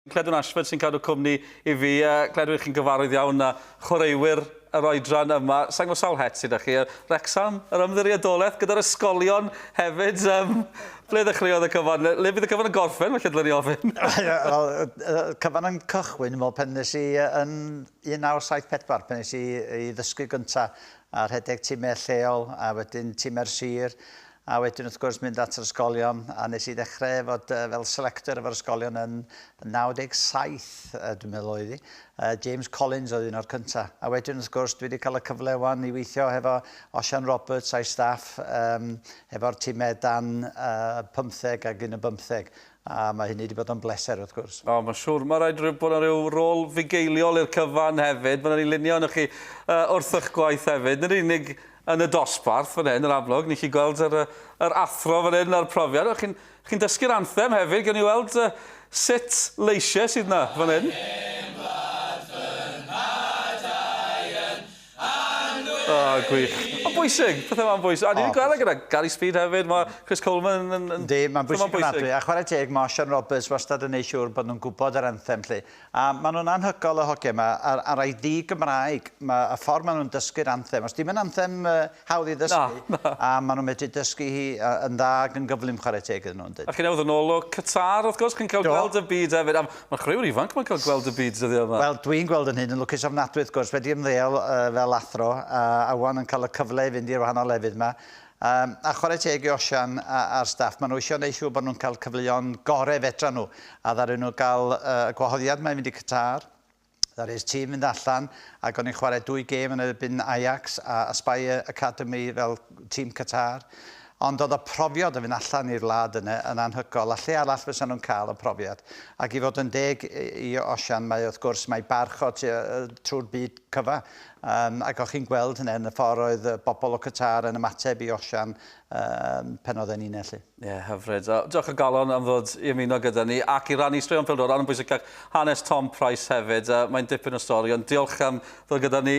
Cledwn Ashford sy'n cadw cwmni i fi. Cledw i chi'n gyfarwydd iawn â chwaraewyr yr oedran yma. Sa'n gwybod sawl het sydd â chi. Wrecsam, yr ymddiriedolaeth, gyda'r ysgolion hefyd. Um, ble ddechreuodd y cyfan? Le bydd y cyfan yn gorffen, felly dylwn i ofyn? Wel, cyfan yn cychwyn, fel pen nes i yn 1974, pen nes i i ddysgu gyntaf a rhedeg timau lleol a wedyn timau'r sir A wedyn wrth gwrs mynd at yr ysgolion a wnes i ddechrau fod yy fel selector efo'r ysgolion yn 97 yy dwi'n meddwl oedd hi. Yy James Collins oedd un o'r cynta. A wedyn wrth gwrs dwi wedi cael y cyfle ŵan i weithio hefo Osian Roberts a'i staff yym hefo'r time dan yy pymtheg ag un yn bymtheg a ma' hynny 'di bod yn bleser wrth gwrs. O ma' siŵr ma' raid ry- bod 'na ryw rôl fugeiliol i'r cyfan hefyd ma' 'na ryw lunio ynoch chi yy wrth 'ych gwaith hefyd nid yn unig yn y dosbarth fan hyn, yr amlwg, ni'n gallu gweld yr, yr athro fan hyn a'r profiad. Chi'n chi dysgu'r anthem hefyd, gan i weld uh, sut leisiau sydd yna fan hyn. O, oh, gwych. Mae'n bwysig, pethau mae'n bwysig. A ni'n oh, gweld e gyda Gary Speed hefyd, mae Chris Coleman yn... yn Di, mae'n bwysig yn adwy. A chwarae teg, mae Sean Roberts wastad yn ei siŵr bod nhw'n gwybod yr anthem, lle. A ma' nhw'n anhygoel y hogie ma ar ar ei ddi Gymraeg ma y ffordd ma nhw'n dysgu'r anthem os di'm yn anthem yy hawdd i ddysgu Na na. a ma nhw'n medru dysgu hi yy yn dda ag yn gyflym chwarae teg iddyn nhw yndyn? A chi'n awdd yn ôl o Qatar wrth gwrs chi'n cael Do. gweld y byd hefyd a ma chwriwr ifanc ma'n cael gweld y byd dyddia ma. Wel dwi'n gweld yn hyn yn lwcus ofnadwy wrth gwrs wedi ymddeol yy fel athro a a ŵan yn cael y cyfle i fynd i'r wahanol lefydd ma Yym, a chwarae teg i Osian a, a'r staff, maen nhw eisiau gwneud siŵr bod nhw'n cael cyfleon gorau fedran nhw, a ddaru nhw gael yy, y gwahoddiad 'ma i fynd i Qatar, ddaru'r tîm fynd allan, ac o'n i'n chwarae dwy gêm yn erbyn Ajax a Aspire Academy fel tîm Qatar, ond oedd y profiad o fynd allan i'r wlad yna yn anhygoel, a lle arall fysa nhw'n cael y profiad? Ac i fod yn deg i Osian, mae wrth gwrs, mae barch o tua yy trwy'r byd cyfa, Yym, ac o'ch chi'n gweld hynna yn y ffordd oedd y bobl o Qatar yn ymateb i Osian yym pan oedd e'n un ellu? Ie, yeah, hyfryd. Uh, diolch o galon am ddod i ymuno gyda ni ac i rannu straeon pildor yn bwysig ac hanes Tom Price hefyd. Uh, mae'n dipyn o stori, ond diolch am ddod gyda ni.